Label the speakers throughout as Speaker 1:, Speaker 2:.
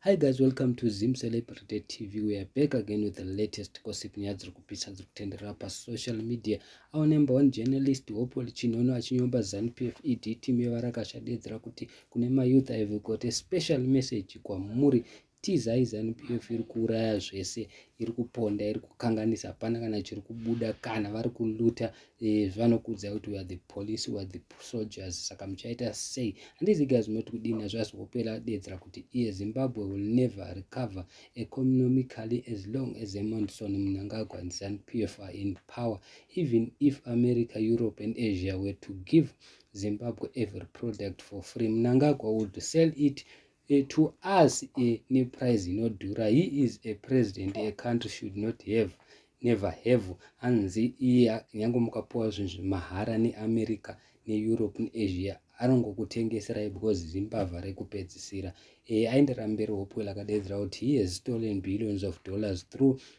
Speaker 1: Hi guys, welcome to Zim Celebrity TV. We are back again with the latest gossip nyaya dziri kupisa dziri kutenderera pasocial media. Our number one journalist Hopewell Chinono achinyomba ZANPF ED team yevarakasha deedzera kuti kune mayouth have got a special message kwamuri tizai zanupf iri kuuraya zvese iri kuponda iri kukanganisa hapana kana chiri kubuda kana vari kuluta Eh, vanokudza kuti weare the police weare the soldiers saka muchaita sei handizi guys munoti kudini nazvo asi kupera deedzera kuti iye zimbabwe will never recover economically as long as emonson munangagwa and zanu p f are in power even if america europe and asia were to give zimbabwe every product for free munangagwa would sell it E to us e ne price inodhura he is a president a country should not have never have hanzi iye nyange mukapuwa zvinhu zvemahara neamerica neeurope neasia anongokutengeserai because zimbavha rekupedzisira e aenderamberi hopewell akadedzera kuti he has stolen billions of dollars through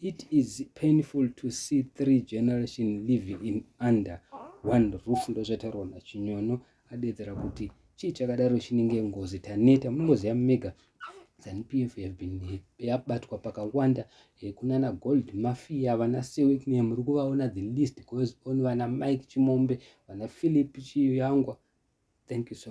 Speaker 1: It is painful to see three generation living in under one roof ndozvataurwa naChinyono adedzera kuti chii chakadaro chinenge ngozi taneta munongoziva mega zanupf have been yabatwa pakawanda eh, kunana gold mafia vana sewikne muri kuvaona the list goes on vana mike chimombe vana philip chiyangwa thank you so